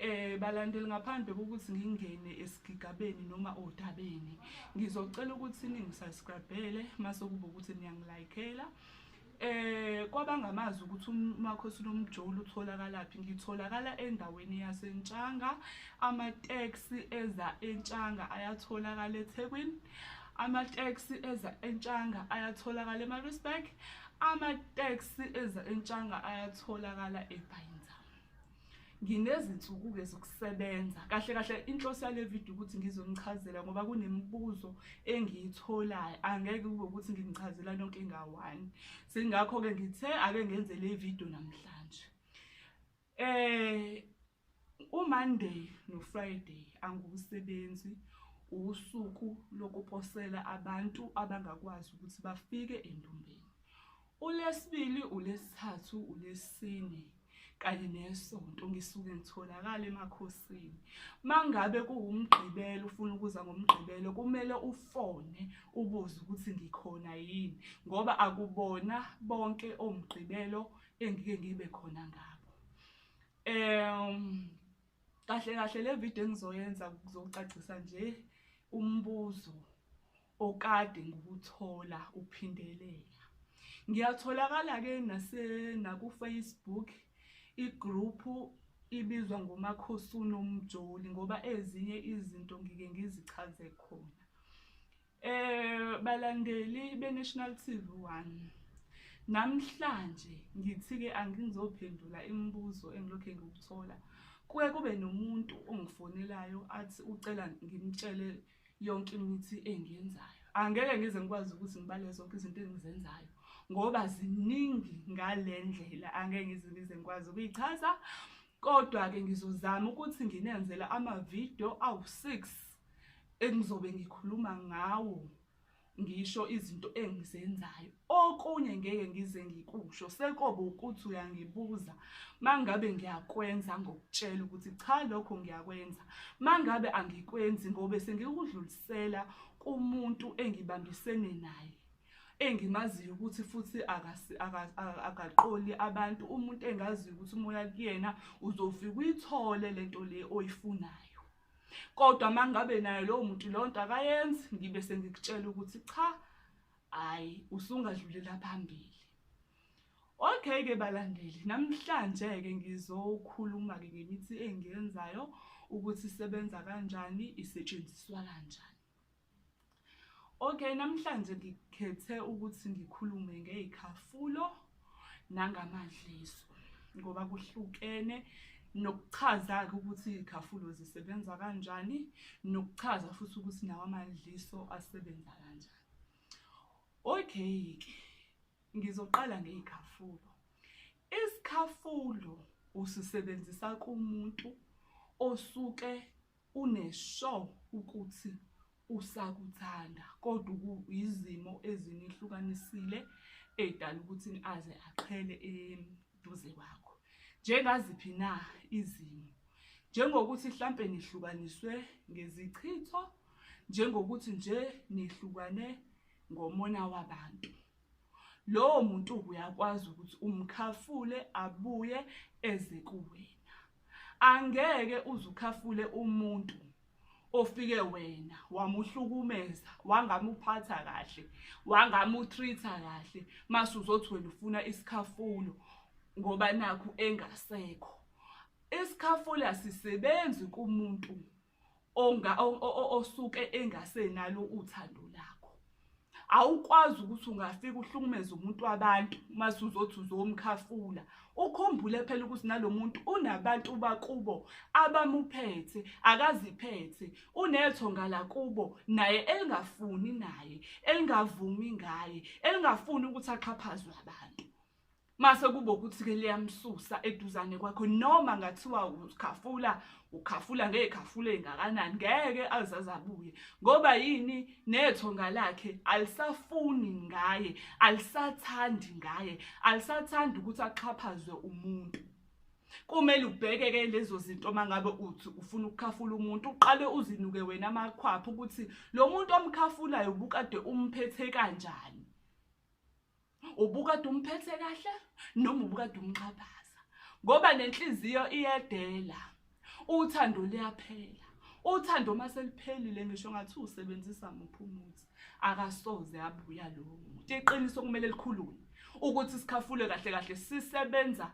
Eh balandeli ngaphandle kokuthi ngingene esigigabeni noma odabeni ngizocela ukuthi ningisubscribele mase kuba ukuthi niyangilikela eh kwabangamazi ukuthi umakhosi lomjolo utholakalaphi ngitholakala endaweni yasentshanga ama taxi eza entshanga ayatholakala eThekwini amateksi eza entshanga ayatholakala emarisburg amateksi eza entshanga ayatholakala ebhayinza nginezinsuku-ke zokusebenza kahle kahle inhloso yale video ukuthi ngizonichazela ngoba kunemibuzo engiyitholayo angeke kube ukuthi nginichazela nonke ngawani singakho-ke ngithe ake ngenze le video namhlanje um umonday nofriday angiwusebenzi usuku lokuposela abantu abangakwazi ukuthi bafike endumbeni ULwesibili, uLwesithathu, uLwesine kanye neSonto ngisuke ngitholakala emakhosini. Mangabe kuwuMgqibelo ufuna ukuza ngoMgqibelo kumele ufone ubuze ukuthi ngikhona yini ngoba akubona bonke oMgqibelo engike ngibe khona ngabo. Um kahle kahle le video engizoyenza kuzokucacisa nje umbuzo okade ngikuthola uphindelela ngiyatholakala-ke nakufacebook igruphu ibizwa ngomakhosi unomjoli ngoba ezinye izinto ngike ngizichaze khona eh balandeli beNational TV 1 namhlanje ngithi-ke angizophendula imibuzo engilokhu ngikuthola kuke kube nomuntu ongifonelayo athi ucela ngimtshele yonke imithi engiyenzayo angeke ngize ngikwazi ukuthi ngibale zonke izinto engizenzayo ngoba ziningi ngale ndlela angeke ngize ngize ngikwazi ukuyichaza kodwa-ke ngizozama ukuthi nginenzela amavidiyo awu-six engizobe ngikhuluma ngawo ngisho izinto engizenzayo okunye ngeke ngize ngikusho sekobe ukuthi uyangibuza mangabe ngiyakwenza ngokutshela ukuthi cha lokho ngiyakwenza mangabe angikwenzi ngobe sengikudlulisela kumuntu engibambisene naye engimaziyo ukuthi futhi akaqoli abantu umuntu engaziyo ukuthi umoya kuyena uzofika uyithole lento le oyifunayo kodwa uma ngabe nayo lowo muntu leyo nto akayenzi ngibe sengikutshela ukuthi cha hhayi usungadlulela phambili okay-ke balandeli namhlanje-ke ngizokhuluma-ke ngemithi engiyenzayo ukuthi isebenza kanjani isetshenziswa kanjani Okay, namhlanje ngikhethe ukuthi ngikhulume ngey'khafulo nangamadliso ngoba kuhlukene nokuchaza-ke ukuthi iy'khafulo zisebenza kanjani nokuchaza futhi ukuthi nawo amadliso asebenza kanjani. Okay-ke ngizoqala ngey'khafulo. Isikhafulo usisebenzisa kumuntu osuke Une sure ukuthi usakuthanda kodwa ukuyizimo ezinihlukanisile edala ukuthi aze aqhele eduze kwakho. Njengaziphi na izimo? Njengokuthi mhlampe nihlukaniswe ngezichitho, njengokuthi nje nihlukane ngomona wabantu. lowo muntu uyakwazi ukuthi umkhafule abuye eze kuwena angeke uzukhafule umuntu ofike wena wamuhlukumeza wangamuphatha kahle wangamutreata kahle mase uzothi wena ufuna isikhafulo ngoba nakho engasekho isikhafulo asisebenzi kumuntu onga osuke engasenalo uthando lakho awukwazi ukuthi ungafika uhlukumeze umuntu wabantu uma suzothi uzomkhafula ukhumbule phela ukuthi nalo muntu unabantu bakubo abamuphethe akaziphethe unetho ngala kubo naye elingafuni naye elingavumi ngaye elingafuni ukuthi axhaphazwe abantu mase kubo ukuthi ke liyamsusa eduzane kwakho noma ngathiwa ukhafula ukhafula ngekhafule ngakanani ngeke azazabuye ngoba yini nethonga lakhe alisafuni ngaye alisathandi ngaye alisathandi ukuthi axhaphazwe umuntu kumele ubheke ke lezo zinto mangabe uthi ufuna ukukhafula umuntu uqale uzinuke wena amakhwapha ukuthi lo muntu omkhafulayo ubukade umphethe kanjani ubukade umphethe kahle noma ubukade umxhaphaza ngoba nenhliziyo iyedela uthando liyaphela uthando uma seliphelile ngisho ngathi usebenzisa muphi umuthi akasoze abuya lowo muntu iqiniso kumele likhulume ukuthi sikhafule kahle kahle sisebenza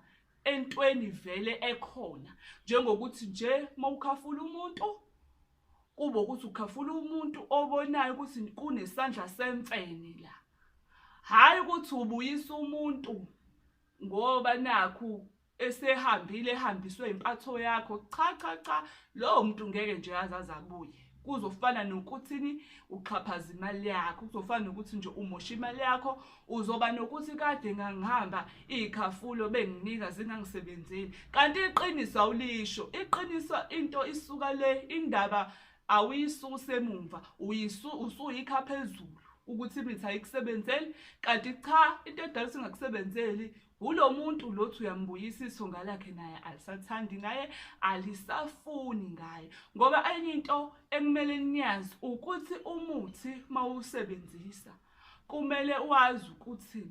entweni vele ekhona njengokuthi nje mawukhafula umuntu kube ukuthi ukhafula umuntu obonayo ukuthi kunesandla semfene la hhayi ukuthi ubuyisa umuntu ngoba nakhu esehambile ehambiswe impatho yakho cha cha cha lowo muntu ngeke nje aze aze abuye kuzofana nokuthini uxhaphaza imali yakho kuzofana nokuthi nje umosha imali yakho uzoba nokuthi kade ngangihamba iy'khafulo benginika zingangisebenzeli kanti iqiniso awulisho iqiniso into isuka le indaba awuyisuse emumva uyisu usuyikha phezulu ukuthi imithi ayikusebenzeli kanti cha into edala singakusebenzeli wulo muntu lothi uyambuyisa isonga lakhe naye alisathandi ngaye alisafuni ngaye ngoba enye into ekumele niyazi ukuthi umuthi mawusebenzisa kumele wazi ukuthi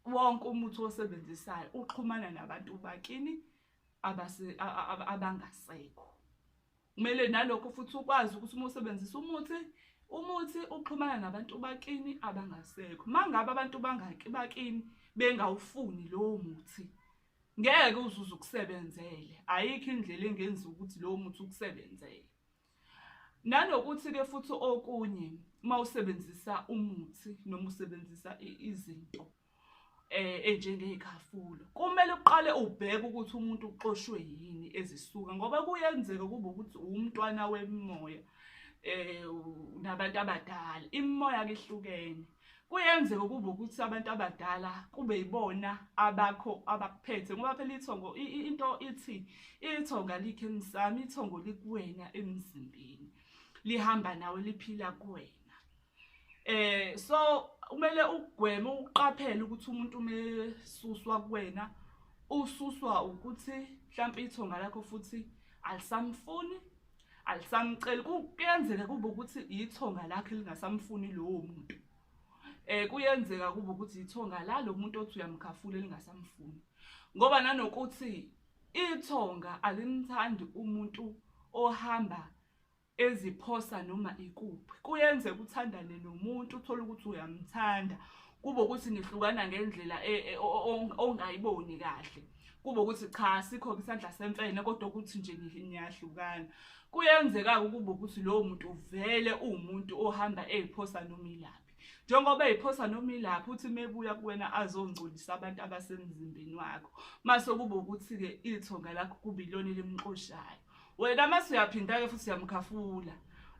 wonke umuthi osebenzisayo uxhumana nabantu bakini abangasekho Kumele nalokho futhi ukwazi ukuthi uma usebenzisa umuthi umuthi uxhumana nabantu bakini abangasekho mangabe abantu bangaki bakini bengawufuni lowo muthi ngeke uzuze ukusebenzele ayikho indlela engenza ukuthi lowo muthi ukusebenzele nanokuthi ke futhi okunye uma usebenzisa umuthi noma usebenzisa izinto eh enjengeyikhafulo kumele uqale ubheke ukuthi umuntu uxoshwe yini ezisuka ngoba kuyenzeka kube ukuthi umntwana wemoya eh nabantu abadala imimoya kihlukene kuyenzeka kube ukuthi abantu abadala kube yibona abakho abakuphethe ngoba phela ithongo into ithi ithongo alikho emsamo ithongo likuwena emzimbeni lihamba nawe liphila kuwena eh so kumele ugweme uqaphele ukuthi umuntu umesuswa kuwena ususwa ukuthi mhlawumbe ithonga lakho futhi alisamfuni alisamceli kuyenzeka kube ukuthi ithonga lakhe lingasamfuni lowo muntu eh kuyenzeka kube ukuthi ithonga la lo muntu othi uyamkhafula lingasamfuni ngoba nanokuthi ithonga alimthandi umuntu ohamba eziphosa noma ikuphi kuyenzeka uthandane nomuntu uthole ukuthi uyamthanda kube ukuthi nihlukana ngendlela e, e, ongayiboni kahle kube ukuthi cha sikho isandla semfene kodwa ukuthi nje niyahlukana kuyenzeka-ke ukube ukuthi lowo muntu uvele uwumuntu ohamba eyiphosa noma ilaphi njengoba eyiphosa noma ilapho uthi mebuya kuwena azongcolisa abantu abasemzimbeni wakho mase kube ukuthi-ke ithonga lakho kubilona elimxoshayo wena mase uyaphinda-ke futhi uyamkhafula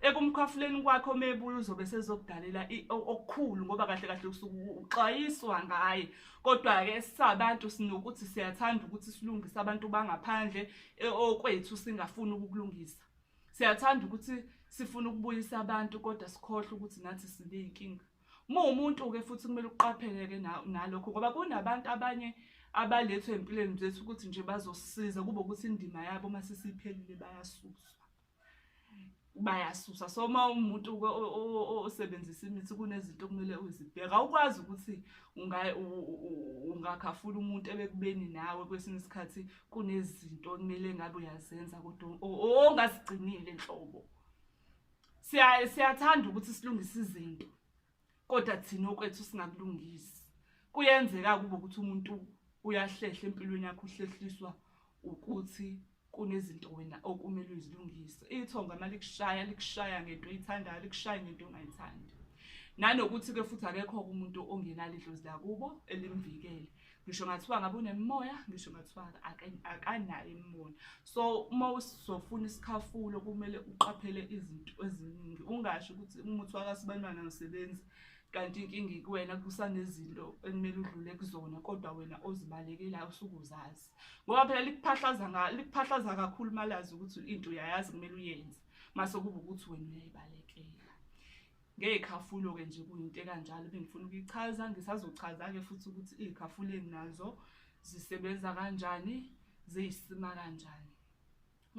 ekumkhafuleni kwakhe omebuya uzobe sezokudalela okukhulu ngoba kahle kahle usuke uxwayiswa ngaye kodwa-ke sabantu sinokuthi siyathanda ukuthi silungise abantu bangaphandle e, okwethu singafuni ukukulungisa siyathanda ukuthi sifuna ukubuyisa abantu kodwa sikhohlwe ukuthi nathi siney'nkinga uma umuntu-ke futhi kumele uqaphele-ke nalokho ngoba kunabantu abanye abalethwe empilweni zethu ukuthi nje bazosisiza kube ukuthi indima yabo uma sesiphelile bayasuswa bayasusa so uma umuntu osebenzisa imithi kunezinto okumele uzibheka ukwazi ukuthi ungakhafula umuntu ebekubeni nawe kwesinye isikhathi kunezinto okumele ngabe uyazenza kodwa ongazigcinile nhlobo siya siyathanda ukuthi silungise izinto kodwa thina okwethu singakulungisi kuyenzeka kube ukuthi umuntu uyahlehla empilweni yakho uhlehliswa ukuthi kunezinto wena okumele uzilungise ithonga malikushaya likushaya ngento oyithandayo likushaya ngento ongayithandi nanokuthi ke futhi akekho umuntu ongenalo idlozi lakubo elimvikele ngisho ngathiwa ngabe unemimoya ngisho ngathiwa akanayo imimoya so uma usizofuna isikhafulo kumele uqaphele izinto eziningi ungasho ukuthi umuthi wakasibantwana usebenzi kanti inkinga ikuwena kusanezinto ekumele udlule kuzona kodwa wena ozibalekelayo usuke uzazi ngoba phela likuphahlaza likuphahlaza kakhulu uma lazi ukuthi into uyayazi kumele uyenze mase kuba ukuthi wena uyayibalekela ngey'khafulo-ke nje kuyinto ekanjalo bengifuna ukuyichaza ngisazochaza-ke futhi ukuthi iy'khafulo enginazo zisebenza kanjani ziyisima kanjani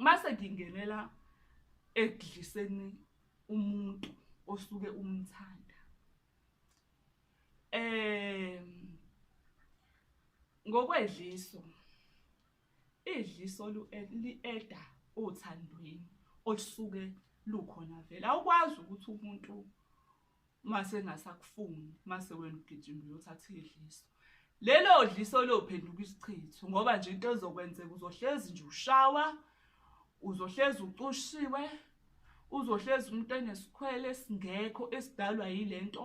mase ngingenela ekudliseni umuntu osuke umthanda um ngokwedliso idliso li-eda othandweni olusuke lukhona vele awukwazi ukuthi umuntu mase engasakufuni mase wena ugijima uyothatha idliso lelo dliso lophenduka isichitho ngoba nje into ezokwenzeka uzohlezi nje ushawa uzohlezi ucushiwe uzohlezi umuntu enesikhwele esingekho esidalwa yile nto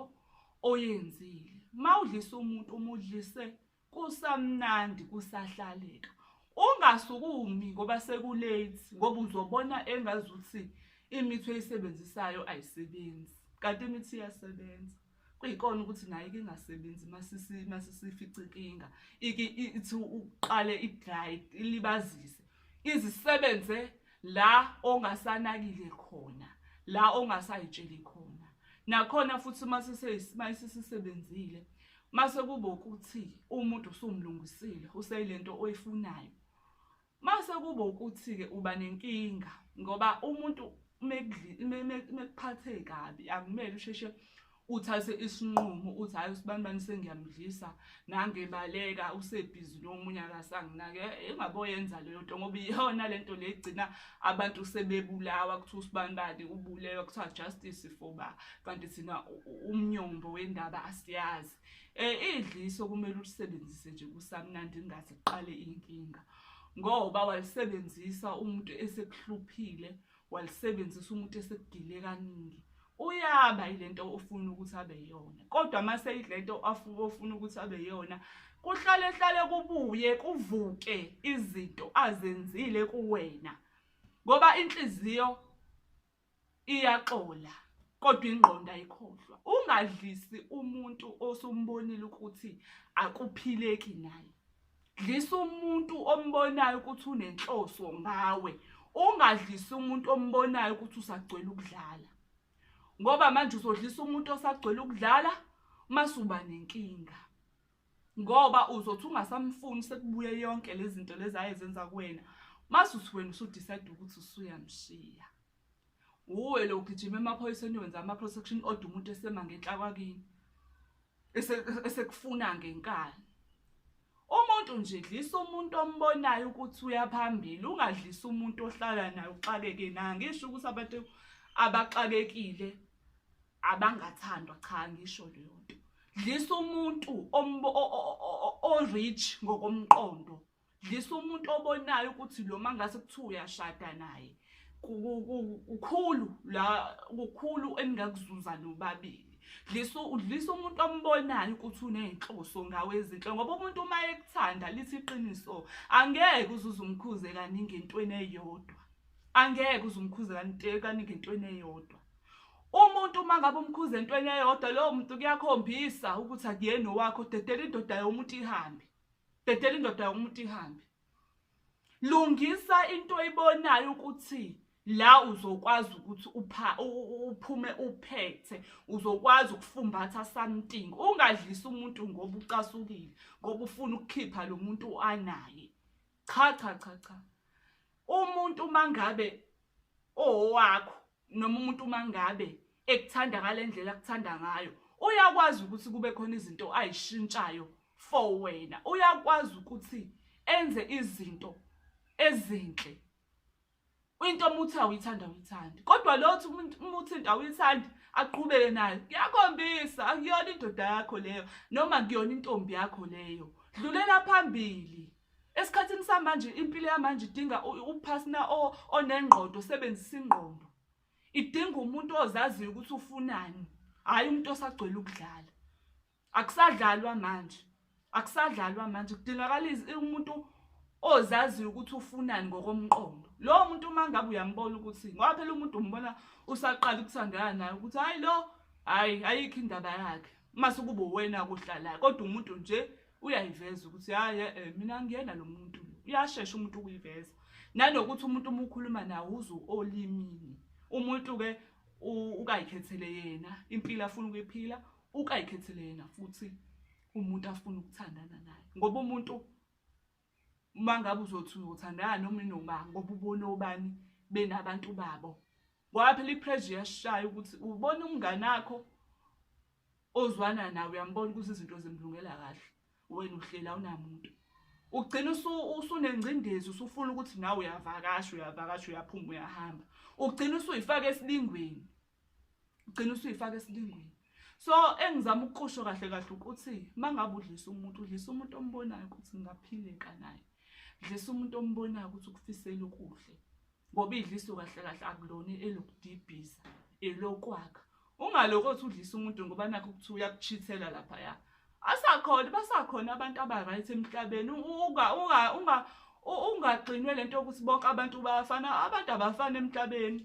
oyenzile uma udlisa umuntu uma udlise kusamnandi kusahlaleka ungasukumi ngoba sekulate ngoba uzobona engazuthi imithi oyisebenzisayo ayisebenzi kanti imithi iyasebenza kuyikona ukuthi nayo ike ingasebenzi masisi masisifica inkinga ike ithi uqale idry ilibazise izisebenze la ongasanakile khona la ongasayitsheli khona nakhona futhi masisisebenzile mase kuba ukuthi umuntu usumlungisile useyilento oyifunayo mase kuba ukuthi ke uba nenkinga ngoba umuntu mekuphathe kabi akumele usheshe uthathe isinqumo uthi hayi usibani bani sengiyamdlisa nangebaleka usebhizi nomunye akasanginake eh, engaboyenza leyo nto ngoba iyona le nto legcina abantu sebebulawa kuthiwa usibani bani ubulewa kuthiwa justice for ba kanti thina umnyombo wendaba asiyazi um idliso kumele ulisebenzise nje kusamnandi ingathi kuqale inkinga ngoba walisebenzisa umuntu esekuhluphile walisebenzisa umuntu esekugile kaningi uyaba ilento ofuna ukuthi abe yona kodwa mase ilento afuba ofuna ukuthi abe yona kuhlale hlale kubuye kuvuke izinto azenzile kuwena ngoba inhliziyo iyaxola kodwa ingqondo ayikhohlwa ungadlisi umuntu osumbonile ukuthi akuphileki naye dlisa umuntu ombonayo ukuthi unenhloso ngawe ungadlisi umuntu ombonayo ukuthi usagcwele ukudlala ngoba manje uzodlisa umuntu osagcwele ukudlala masuba nenkinga ngoba uzothi ungasamfuni sekubuye yonke lezi zinto lezi ayezenza kuwena mase uthi wena usudecide ukuthi usuyamshiya wuwe lo ugijima emaphoyiseni wenza ama-protection order umuntu esema ngenhla kwakini esekufuna ngenkani umuntu nje dlisa umuntu ombonayo ukuthi uyaphambili ungadlisa umuntu ohlala naye uxakeke naye ngisho ukuthi abantu abaxakekile abangathandwa cha ngisho leyo nto dlisa umuntu o-rich ngokomqondo dlisa umuntu obonayo ukuthi lo mangase kuthiwa uyashada naye kukhulu la kukhulu eningakuzuza nobabili dlisa udlisa umuntu ombonayo ukuthi uney'nhloso ngawe ezinhle ngoba umuntu uma ekuthanda lithi iqiniso angeke uzuze umkhuze kaningi entweni eyodwa angeke uze umkhuze kaningi entweni eyodwa Umuntu uma ngabe umkhuza entweni eyodwa lowo muntu kuyakhombisa ukuthi akuyena owakho dedela indoda yomuntu ihambe dedela indoda yomuntu ihambe lungisa into oyibonayo ukuthi la uzokwazi ukuthi upha uphume uphethe uzokwazi ukufumbatha something ungadlisa umuntu ngoba ucasukile ngoba ufuna ukukhipha lo muntu anaye cha cha cha cha umuntu mangabe owakho noma umuntu uma ngabe ekuthanda ngale ndlela akuthanda ngayo uyakwazi ukuthi kube khona izinto ayishintshayo for wena uyakwazi ukuthi enze izinto ezinhle into umuthi awuyithanda awuyithandi kodwa lothi umuthi into awuyithandi aqhubeke nayo kuyakhombisa akuyona indoda yakho leyo noma kuyona intombi yakho leyo dlulela phambili Esikhathini samanje impilo yamanje idinga uphasina onengqondo osebenzisa ingqondo. Idinga umuntu ozaziyo ukuthi ufunani, hhayi umuntu osagcwele ukudlala. Akusadlalwa manje, akusadlalwa manje kudingakala umuntu ozaziyo ukuthi ufunani ngokomqondo. Lowo muntu uma ngabe uyambona ukuthi ngoba phela umuntu umbona usaqala ukuthandana naye ukuthi hhayi lo hhayi ayikho indaba yakhe. Uma sekuba uwena kuhlalayo kodwa umuntu nje uyayiveza ukuthi hayi eh, mina ngiyena lo muntu uyashesha umuntu ukuyiveza nanokuthi umuntu uma ukhuluma nawo uze olimini umuntu-ke ukayikhethele yena impilo afuna ukuyiphila ukayikhethele yena futhi umuntu afuna ukuthandana naye ngoba umuntu uma ngabe uzothi uzothandana noma inoma ngoba ubona obani benabantu babo ngoba phela ipressure iyashaya ukuthi ubona umngane wakho ozwana nawe uyambona ukuthi izinto zimlungela kahle wena uhlela unamuntu ugcina usunengcindezi usufuna ukuthi nawe uyavakasha uyavakasha uyaphuma uyahamba ugcina usuyifaka esilingweni ugcina usuyifaka esilingweni so engizama ukuqusho kahle kahle ukuthi uma ngabe udlisa umuntu udlisa umuntu ombonayo ukuthi ngaphileka naye dlisa umuntu ombonayo ukuthi ukufisela okuhle ngoba idliso kahle kahle akulona elokudibhiza elokwakha ungalokho othi udlisa umuntu ngoba nakho ukuthi uyakuchithela laphaya asakhona basakhona abantu aba-right emhlabeni ungagxinwe le nto yokuthi bonke abantu bayafana abantu abafani emhlabeni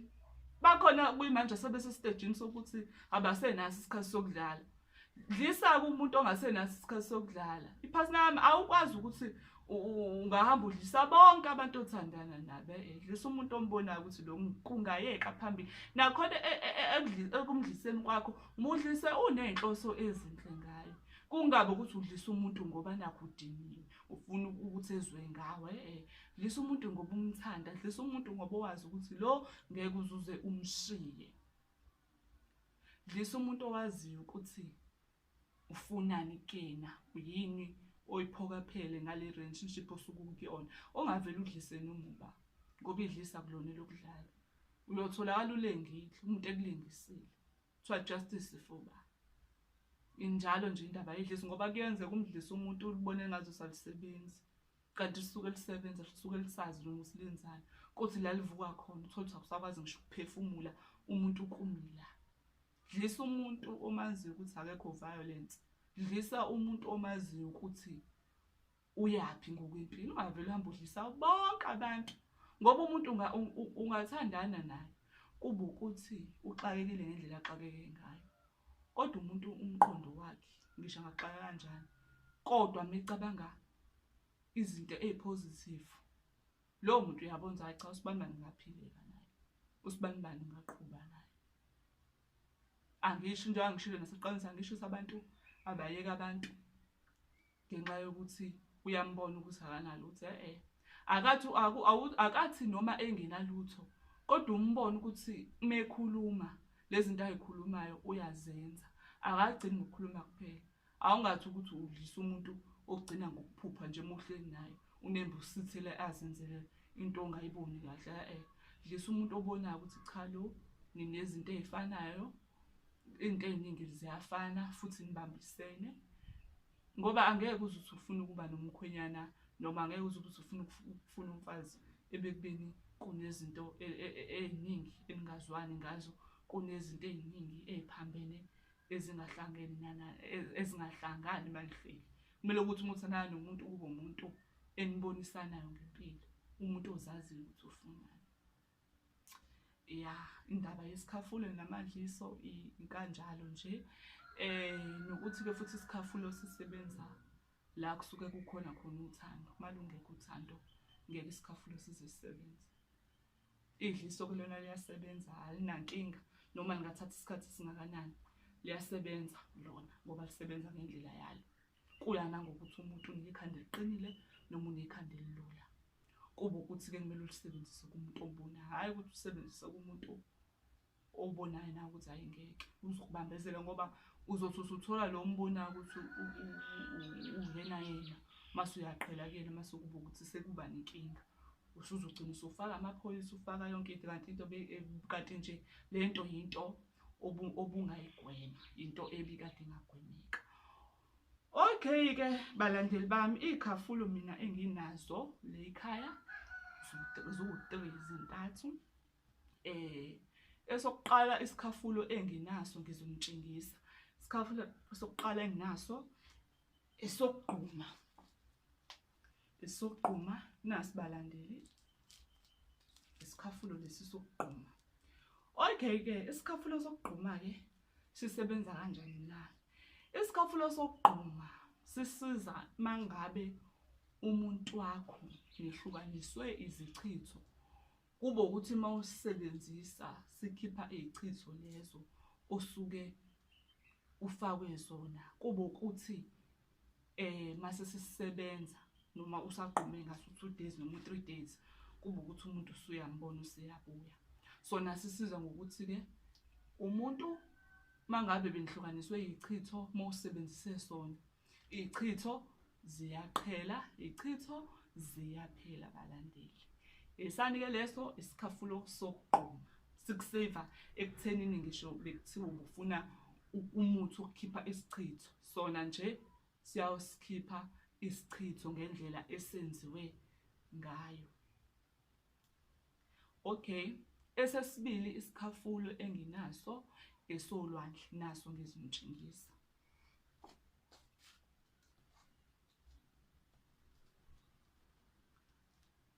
bakhona kuyimanje sebesesitejini sokuthi abasenaso isikhathi sokudlala dlisa-ke umuntu ongasenaso isikhathi sokudlala iphasi lami awukwazi ukuthi ungahamba udlisa bonke abantu othandana nabo edlisa umuntu ombonayo ukuthi lo kungayeka phambili nakhona e, e, e, ekumdliseni kwakho mudlise uney'nhloso ezinhle ngayo kungabe ukuthi udlisa umuntu ngoba nakho udiniwe ufuna ukuthi ezwe ngawe eh dlisa umuntu ngoba umthanda dlisa umuntu ngoba owazi ukuthi lo ngeke uzuze umshiye dlisa umuntu owaziyo ukuthi ufunani kuyena uyini oyiphokaphele ngale relationship osuke ukuyona ongavele udlise nomuba ngoba idlisa kulona lokudlala uyotholakala ulengile umuntu ekulengisile kuthiwa justice ifuba injalo nje indaba yedlisi ngoba kuyenzeka umdlisa umuntu ulibone ngazo salisebenzi kanti lisuke lisebenza lisuke lisazi noma usilenzani kuthi la livuka khona uthole ukuthi akusakwazi ngisho ukuphefumula umuntu ukumila Dlisa umuntu omaziyo ukuthi akekho violence. Dlisa umuntu omaziyo ukuthi uyaphi ngokwempilo. Ungavele uhambe udlisa bonke abantu ngoba umuntu ungathandana naye kuba ukuthi uxakekile ngendlela axakeke ngayo. Kodwa umuntu umqondo wakhe ngisho angaxaka kanjani kodwa mecabanga izinto ezipositive Lowo muntu uyabona ukuthi hayi cha usibanibani ngaphileka naye. Usibanibani ngaqhuba naye. Angisho into angishilo naseqanisa angisho ukuthi abantu abayeka abantu ngenxa yokuthi uyambona ukuthi akanalo ukuthi eh, eh. akathi akathi noma engenalutho kodwa umbona ukuthi mekhuluma lezi zinto ayikhulumayo uyazenza akagcini ngokukhuluma kuphela Awungathi ukuthi udlisa umuntu ogcina ngokuphupha nje uma uhleli naye unembe usithele azenzele into ongayiboni kahle e-e dlisa umuntu obonayo ukuthi cha lo ninezinto ey'fanayo iy'nto ey'ningi ziyafana futhi nibambisene ngoba angeke uze uthi ufuna ukuba nomkhwenyana noma angeke uze ukuthi ufuna ukufuna umfazi ebekubeni kunezinto e-, e-, e-, ey'ningi eningazwani ngazo kunezinto ey'ningi ey'phambene ezingahlangene nana e-, ezingahlangani malifeli kumele ukuthi uma uthandana nomuntu kube umuntu enibonisanayo ngempilo umuntu ozaziyo ukuthi ufunani ya indaba yesikhafulo namadliso inkanjalo nje eh nokuthi ke futhi isikhafulo sisebenza la kusuke kukhona khona uthando malungekho uthando ngeke isikhafulo size sisebenze Idliso ke lona liyasebenza alinankinga noma lingathatha isikhathi esingakanani liyasebenza lona ngoba lisebenza ngendlela yalo kuya nangokuthi umuntu unekhanda eliqinile noma unekhanda elilula kuba ukuthi-ke kumele ulisebenzise kumuntu obona hhayi ukuthi usebenzise kumuntu obonayo nawe ukuthi hayi ngeke uzokubambezela ngoba uzothi usuthola lo mbonayo ukuthi uyena yena mase uyaqhela kuyena mase ukuba ukuthi sekuba nenkinga usuzogcina usufaka amaphoyisa ufaka yonke into kanti into eh, kanti nje le nto yinto obungayigwema into ebikade ingagwemeka okay-ke balandeli bami iy'khafulo mina enginazo leyikhaya ziwu-three zintathu eh esokuqala isikhafulo enginaso ngizomtshengisa isikhafulo sokuqala enginaso esokugquma esokugquma nasibalandeli isikhafulo lesi sokugquma okay ke isikhafulo sokugquma ke sisebenza kanjani na isikhafulo sokugquma sisiza mangabe umuntu wakho nihlukaniswe izichitho Kube ukuthi uma usisebenzisa sikhipha iy'chitho lezo osuke ufakwe zona kube ukuthi eh mase sisebenza noma usagqume ngaso two days noma three days kube ukuthi umuntu usuyambona useyabuya sona sisiza ngokuthi-ke umuntu mangabe benihlukaniswe yichitho uma usebenzise sona Ichitho ziyaqhela, ichitho ziyaphela balandeli. Esani-ke leso isikhafulo sokugquma sikuseva ekuthenini ngisho bekuthiwa ubufuna umuthi wokukhipha isichitho sona nje siyawusikhipha isichitho ngendlela esenziwe ngayo. Okay, esesibili isikhafulo enginaso esolwandle naso ngizimtshengisa.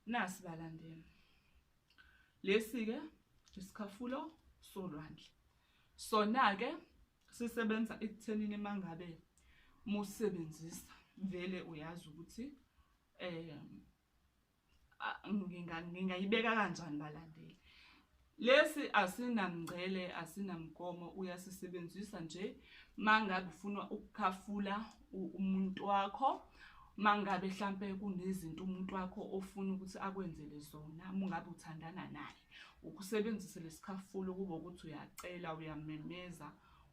Nasi balandeni. Lesi ke isikhafulo solwandle. Sona ke sisebenza ekuthenini mangabe musebenzisa vele uyazi ukuthi eh ngingayibeka kanjani balandeli lesi asinamngcele asinamgomo uyasisebenzisa nje mangabe ufuna ukukhafula umuntu wakho mangabe hlampe kunezinto umuntu wakho ofuna ukuthi akwenzele zona mungabe uthandana naye ukusebenzisa lesikhafulo kube ukuthi uyacela uyamemeza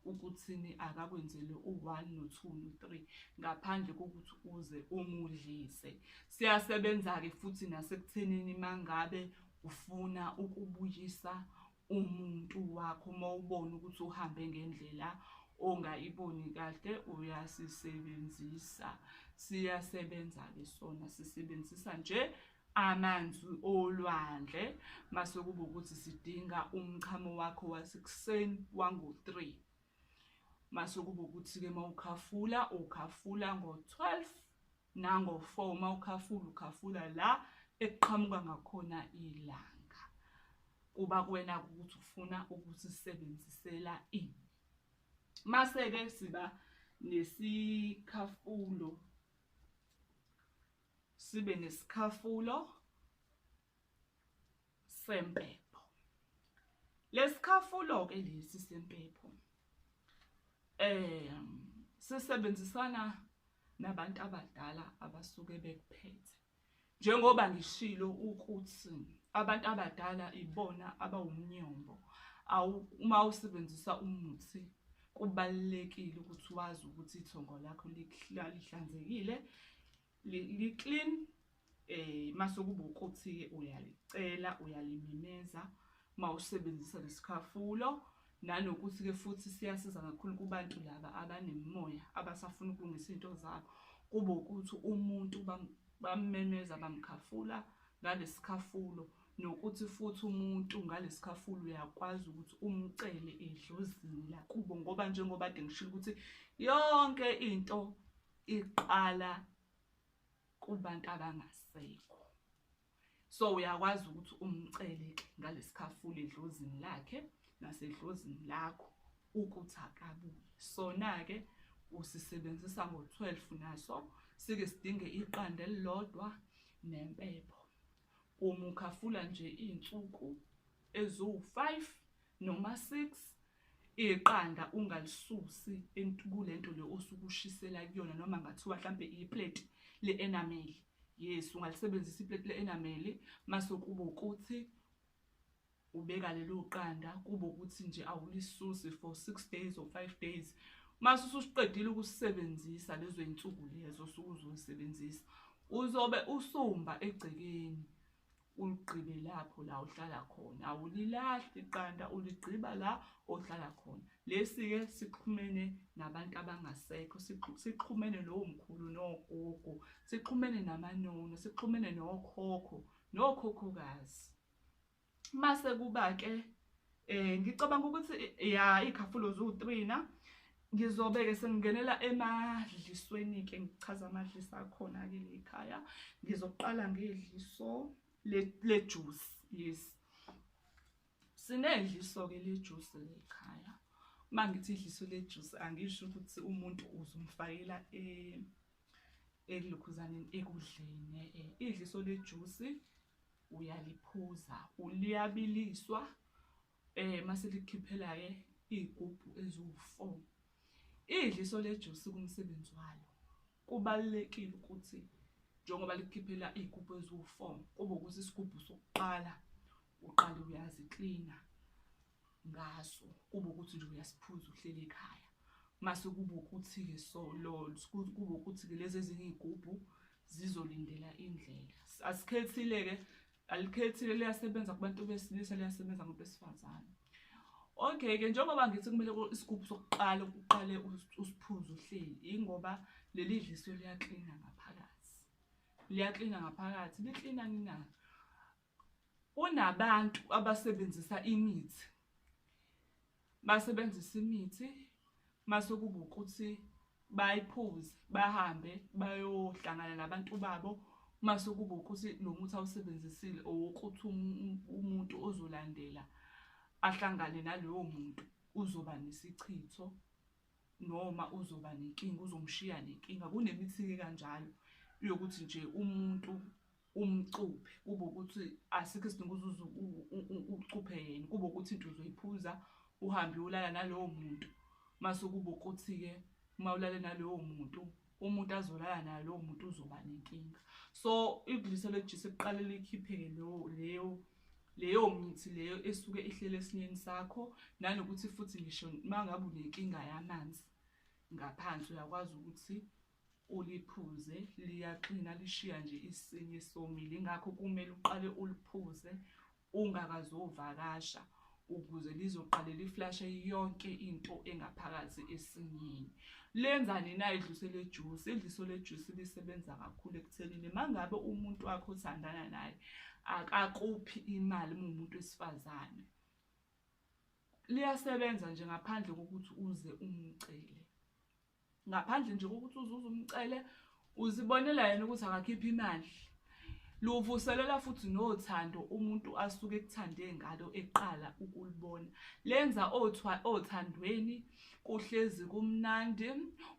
ukuthini akakwenzele u-one no-two no-three ngaphandle kokuthi uze umudlise siyasebenza-ke futhi nasekuthenini uma ngabe ufuna ukubuyisa umuntu wakho uma ubona ukuthi uhambe ngendlela ongayiboni kahle uyasisebenzisa siyasebenza-ke sona sisebenzisa nje Amanzi olwandle mase kuba ukuthi sidinga umchamo wakho wasekuseni wango-3 mase kuba ukuthi-ke uma ukhafula ukhafula ngo-12 nango-4 uma ukhafula ukhafula la ekuqhamuka ngakhona ilanga kuba kuwena ukuthi ufuna ukuthi sisebenzisela ini mase-ke siba nesikhafulo sibe nesikhafulo sempepho lesikhafulo ke lesi sempepho eh sisebenzisana nabantu abadala abasuke bekuphethe njengoba ngishilo ukuthi abantu abadala ibona abawumnyombo uma usebenzisa umuthi kubalulekile ukuthi wazi ukuthi ithongo lakho lihlanzekile li-clean um eh, mase kuba ukuthi-ke uyalicela uyalimemeza uma usebenzisa lesikhafulo nanokuthi-ke futhi siyasiza kakhulu kubantu laba abanemimoya abasafuna ukulungisa iy'nto zabo kube ukuthi umuntu bamemeza bamkhafula ngalesikhafulo nokuthi futhi umuntu ngalesikhafulo uyakwazi ukuthi umcele edlozini lakubo ngoba njengoba de ngishilo ukuthi yonke into iqala kubantu abangasekho so uyakwazi ukuthi umcele ke ngalesikhafulo edlozini lakhe nasedlozini lakho ukuthi akabuye sona ke usisebenzisa ngo-12 naso sike sidinge iqanda elilodwa nempepho umukhafula nje iy'nsuku eziwu-5 noma 6 iqanda ungalisusi kulento le osukushisela kuyona noma ngathiwa mhlampe iplate le-enamel yes ungalisebenzisa iplate le-enamel mase kuba ukuthi ubeka lelo qanda kuba ukuthi nje awulisusi for six days or five days mase ususiqedile ukusebenzisa lezo iy'nsuku lezo osuke uzoyisebenzisa uzobe usumba egcekeni Uligqibe lapho la uhlala khona, awulilahli iqanda, uligqiba la ohlala khona. Lesi-ke sixhumene nabantu abangasekho, sixhumene nomkhulu nogogo, sixhumene namanono, sixhumene nokhokho nokhokhokazi. Mase kuba-ke Eh ngicabanga ukuthi ya ikhafulo zu 3 na ngizobe ke sengingenela emadlisweni ke ngichaza amadlisa akhona ke lekhaya ngizoqala ngedliso le juice yes sinedliso ke le juice lekhaya uma ngithi idliso le juice angisho ukuthi umuntu uzumfakela eh ekulokhuzaneni ekudleni eh, idliso le juice uyaliphuza uliyabiliswa eh mase likhiphela ke igubhu eziwu4 idliso lejuice kumsebenzi walo kubalekile ukuthi njengoba likhiphela igubhu eziwu4 kube ukuthi isigubhu sokuqala uqala uyazi cleaner ngaso kube ukuthi nje uyasiphuza uhleli ekhaya mase kube ukuthi-ke so kube ukuthi-ke lezi ezinye iy'gubhu zizolindela indlela asikhethile-ke alikhethile liyasebenza kubantu besilisa liyasebenza kubantu besifazane okay-ke njengoba ngithi kumele isigubhu sokuqala uqale usiphuze uhleli ingoba leli dliso liyaklina ngaphakathi liyaklina ngaphakathi liklina ngingazi Kunabantu abasebenzisa imithi basebenzisa imithi mase kuba ukuthi bayiphuze bahambe bayohlangana nabantu babo mase kuba ukuthi lo muthi awusebenzisile owokuthi um-, umuntu ozolandela ahlangane naloyo muntu uzoba nesichitho noma uzoba nenkinga uzomshiya nenkinga kunemithi-ke kanjalo yokuthi nje umuntu umcuphe kube ukuthi asikho isidingo uzuze ucuphe yena kube ukuthi into uzoyiphuza uhambe ulala nalowo muntu mase kube ukuthi-ke uma ulale nalowo muntu umuntu azolala naye lowo muntu uzoba nenkinga so idlisa lejisa kuqale likhipheke leyo leyo leyo mithi leyo esuke ihlele esinyeni sakho nanokuthi futhi ngisho uma ngabe unenkinga yamanzi ngaphansi uyakwazi ukuthi Uliphuze liyaxina lishiya nje isinye somile ingakho kumele uqale uliphuze ungakazovakasha ukuze lizoqale liflashe yonke into engaphakathi esinyeni lenzani na idluse lejuice idliso lejuice lisebenza kakhulu ekuthenini mangabe umuntu wakho othandana naye akakuphi imali umuntu wesifazane liyasebenza nje ngaphandle kokuthi uze umcele ngaphandle nje kokuthi uzuze umcele uzibonela yena ukuthi akakhiphe imali luvuselela futhi nothando umuntu asuke ekuthande ngalo eqala ukulibona lenza othandweni kuhlezi kumnandi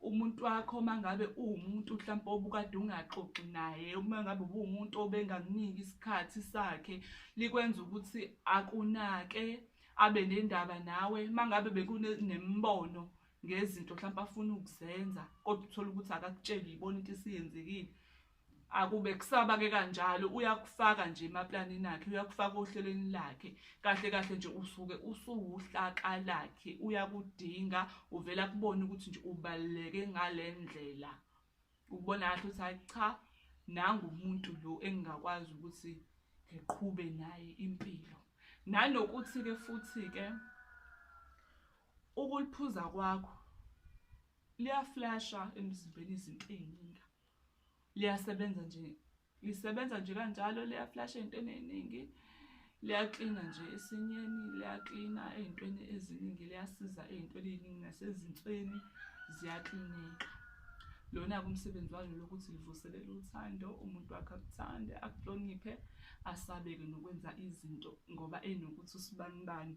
umuntu wakho mangabe uwumuntu mhlawumbe obukade ungaxoxi naye uma ngabe ubuwumuntu obengakuniki isikhathi sakhe likwenza ukuthi akunake abe nendaba nawe mangabe bekunemibono ngezinto mhlawumbe afuna ukuzenza kodwa uthole ukuthi akakutsheli yibona into isiyenzekile akube kusaba ke kanjalo uyakufaka nje emaplanini akhe uyakufaka ohlelweni lakhe kahle kahle nje usuke usuwuhlaka lakhe uyakudinga uvela kubona ukuthi nje ubaluleke ngalendlela ukubona kahle ukuthi hayi cha nangu umuntu lo engingakwazi ukuthi ngiqhube naye impilo nanokuthi ke futhi ke Ukuliphuza kwakho liyaflasha emzimbeni izinto eziningi. Liyasebenza nje lisebenza nje kanjalo liyaflasha ezintweni eziningi. Liyaklina nje esinyeni, liyaklina ezintweni eziningi, liyasiza ezintweni eziningi nasezinsweni ziyaklineka. Lona-ke umsebenzi walo lokuthi livuselele uthando, umuntu wakhe akuthande, akuhloniphe, asabeke nokwenza izinto ngoba enokuthi usibanibani.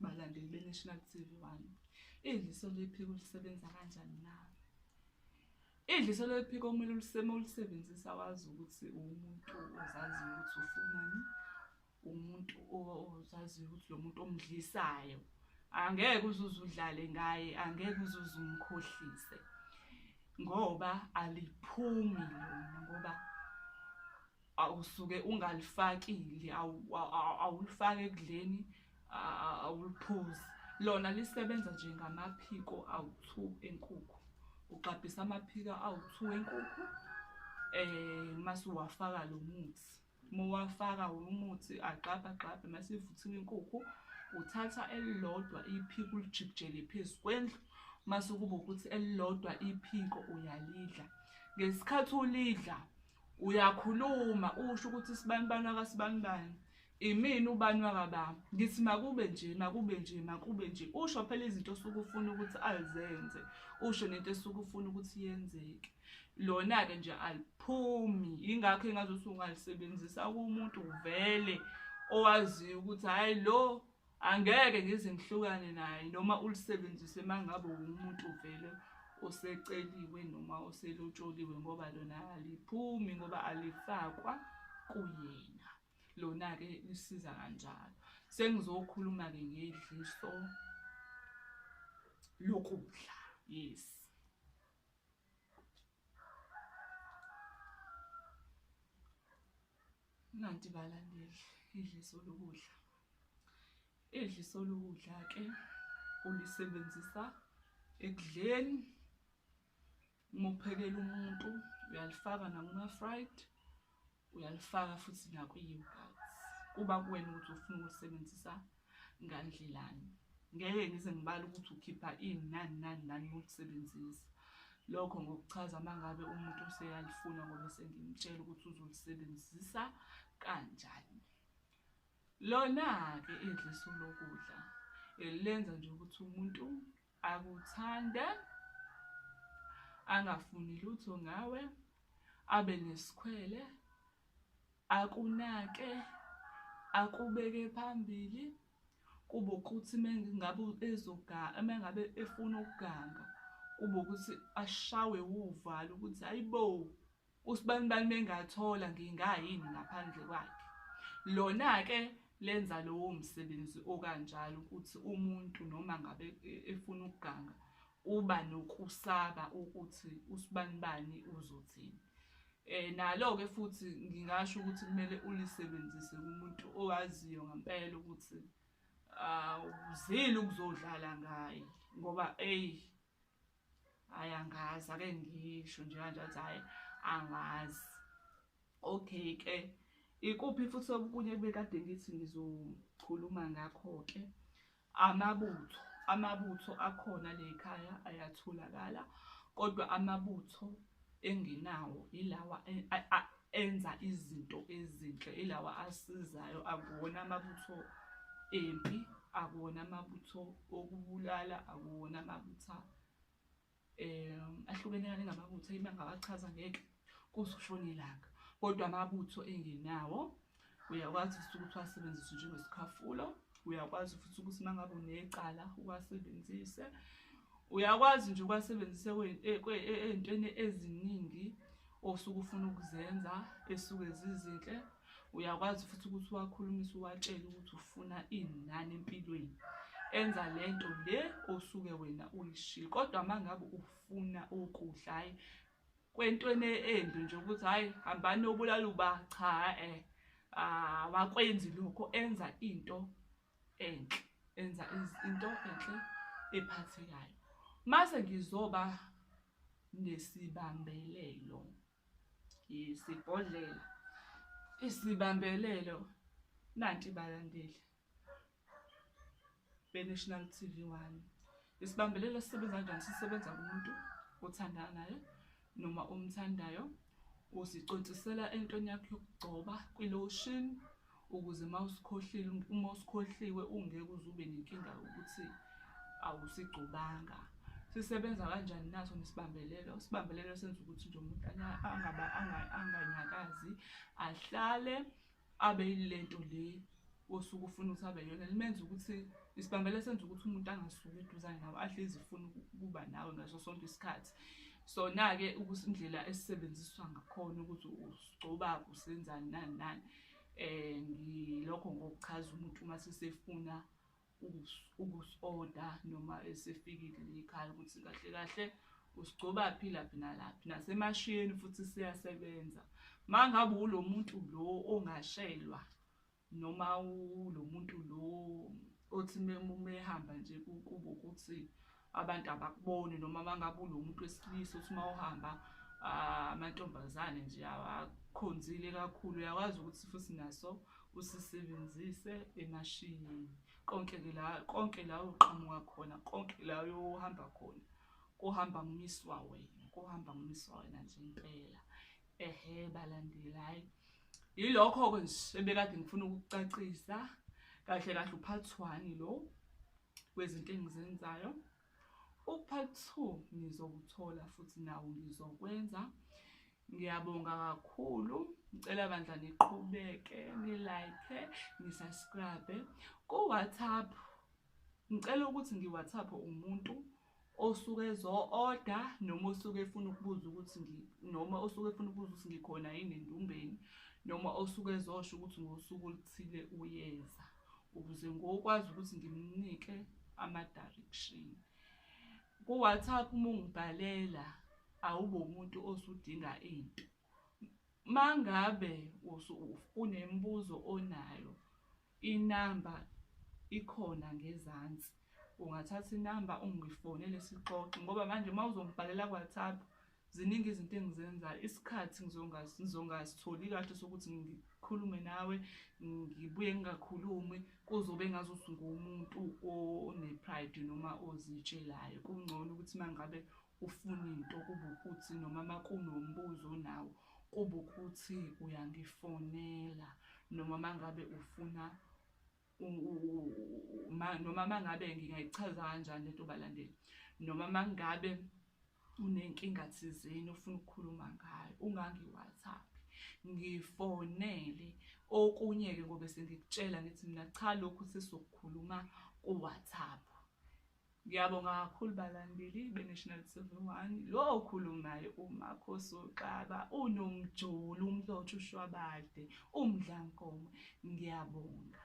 Balandeli beNational TV One, idliso lephiko lisebenza kanjani nawe? Idliso lephiko kumele uliseme ulisebenzisa wazi ukuthi uwumuntu ozaziyo ukuthi ufunani, umuntu ozaziyo ukuthi lo muntu omdlisayo angeke uzuze udlale ngaye, angeke uzuze umkhohlise ngoba aliphumi lona ngoba awusuke ungalifakile awulifaki ekudleni awuliphuzi lona lisebenza nje ngamaphiko awu-two enkukhu ugxabhisa amaphiko awu-two enkukhu um eh, mase uwafaka lo muthi uma uwafaka umuthi agxabha agxabhe mase ivuthiwe inkukhu uthatha elilodwa iphiko ulijikijele phezu kwendlu mase kuba ukuthi elilodwa iphiko uyalidla ngesikhathi ulidla Uyakhuluma usho ukuthi sibanibani wakasibanibani. Imini ubani wakababa. Ngithi makube nje, makube nje, makube nje. Usho phela izinto osuke ufuna ukuthi azenze. Usho nento esuke ufuna ukuthi yenzeke. Lona-ke nje aliphumi. Yingakho engazuthi ungalisebenzisa kumuntu vele owaziyo ukuthi hhayi lo Angeke ngize ngihlukane naye noma ulisebenzise mangabe umuntu vele oseceliwe noma oselotsholiwe ngoba lona aliphumi ngoba alifakwa kuyena lona-ke lisiza kanjalo sengizokhuluma-ke ngedliso lokudla yes Nanti balandeli idliso lokudla. Idliso lokudla ke ulisebenzisa ekudleni uma uphekela umuntu uyalifaka nakuma-fried uyalifaka futhi nakwi-yogurt kuba kuwena ukuthi ufuna ukulisebenzisa ngandlelani ngeke ngize ngibale ukuthi ukhipha ini nani nani nani ngokusebenzisa lokho ngokuchaza uma ngabe umuntu useyalifuna ngoba sengimtshela ukuthi uzolisebenzisa kanjani lona-ke idliso lokudla elenza nje ukuthi umuntu Akuthande, angafuni lutho ngawe, abe nesikhwele, akunake, akubeke phambili, kube ukuthi mengabe ezoganga, mengabe efuna ukuganga, kube ukuthi ashawe wuvalo ukuthi hayibo! Usibanibani mengathola ngingayini ngaphandle kwakhe. Lona-ke lenza lowo msebenzi okanjalo ukuthi umuntu noma ngabe e, efuna ukuganga uba nokusaba ukuthi usibanibani uzothini. Eh nalo-ke futhi ngingasho ukuthi kumele ulisebenzise kumuntu owaziyo ngempela ukuthi awuzile ukuzodlala ngaye ngoba eyi hayi angazi ake ngisho nje kanje athi hayi angazi okay ke ikuphi futhi okunye bekade ngithi ngizokhuluma ngakho-ke amabutho amabutho akhona le khaya ayatholakala kodwa amabutho enginawo ilawa enza izinto ezinhle ilawa asizayo akuwona amabutho empi akuwona amabutho okubulala akuwona amabutha um ahlukene kane ngamabutho ima ngawachaza ngeke kuze ushone ilanga kodwa amabutho engenawo uyakwazi futhi ukuthi wasebenzise njengesikhafulo uyakwazi futhi ukuthi uma ngabe unecala uwasebenzise uyakwazi nje ukwasebenzisa ey'ntweni eziningi osuke ufuna ukuzenza esuke zizinhle uyakwazi futhi ukuthi uwakhulumise uwatshele ukuthi ufuna ini nani empilweni enza le nto le osuke wena uyishilo kodwa uma ngabe ufuna ukudla hhayi kwentweni embi nje ukuthi hayi hambani obulala uba cha eh awakwenzi lokho enza into enhle enza into enhle ephathekayo mase ngizoba nesibambelelo yesibhodlela isibambelelo nanti balandeli beNational TV One. Isibambelelo esisebenza kanjani sisebenza kumuntu othandana naye noma omthandayo uzicontsisela entweni yakho yokugcoba kwi-lotion ukuze uma usikhohlile uma usikhohliwe ungeke uze ube nenkinga yokuthi awusigcobanga sisebenza kanjani naso nesibambelelo isibambelelo senza ukuthi nje umuntu angaba anganyakazi ahlale abe yilento le osuke ufuna ukuthi abe yona limenza ukuthi isibambela senza ukuthi umuntu angasuki eduzane nawe ahlezi ifuna ukuba nawe ngaso sonke isikhathi sona-ke ukuthi indlela esisebenziswa ngakhona ukuthi usigcobaphi usenzani nani nani um ngilokho ngokuchaza umuntu uma sesefuna ukusoda noma esefikile le ekhaya ukuthi kahle kahle usigcobaphi laphi nalaphi nasemashiyeni futhi siyasebenza uma ngabe ulo muntu lo ongashelwa noma ulo muntu lo othi mehamba nje kubo ukuthi abantu abakuboni noma mangabe unomuntu wesilisa uthi uma uhamba ah, amantombazane nje akhonzile kakhulu uyakwazi ukuthi futhi naso usisebenzise emashini konke ke la konke la uqhamuka khona konke la uyohamba khona kuhamba ngumiswa wena kuhamba ngumiswa wena nje impela ehe balandeli hayi yilokho-ke nje ebekade ngifuna ukukucacisa kahle kahle uphathwani lo kwezinto engizenzayo. U-part two ngizowuthola futhi nawo ngizokwenza. Ngiyabonga kakhulu. Ngicela bandla niqhubeke, nilike, nisubscribe. Ku-WhatsApp ngicela ukuthi ngi-WhatsApp umuntu osuke ezo-oda noma osuke efuna ukubuza ukuthi noma osuke efuna ukubuza ukuthi ngikhona yini endumbeni noma osuke ezosho ukuthi ngosuku oluthile uyeza ukuze ngokwazi ukuthi ngimnike ama-direction ku-whatsapp uma ungibhalela awube umuntu osudinga into mangabe unemibuzo onayo Inamba ikhona ngezansi. Ungathatha inamba ungifonele sixoxe ngoba manje uma uzongibhalela ku-WhatsApp ziningi izinto engizenzayo. Isikhathi ngizongasitholi kahle sokuthi ngikhulume nawe, ngibuye ngingakhulumi. Kuzobe engazuthi nguwumuntu one-pride noma ozitshelayo. Kungcono ukuthi uma ngabe Ufuna into kube ukuthi noma makunombuzo onawo kube ukuthi uyangifonela noma mangabe ufuna noma mangabe ngingayichaza kanjani lento balandeli noma mangabe unenkinga thizeni ofuna ukukhuluma ngayo ungangi-whatsapp ngifonele okunye-ke ngobe sengikutshela ngithi mina cha lokhu sesizokukhuluma ku-whatsapp Ngiyabonga kakhulu balandeli beNational TV One. Lo okhulumayo uMakhosi uXaba, unomjulu, umlotha ushwabade, umdlankomo. Ngiyabonga.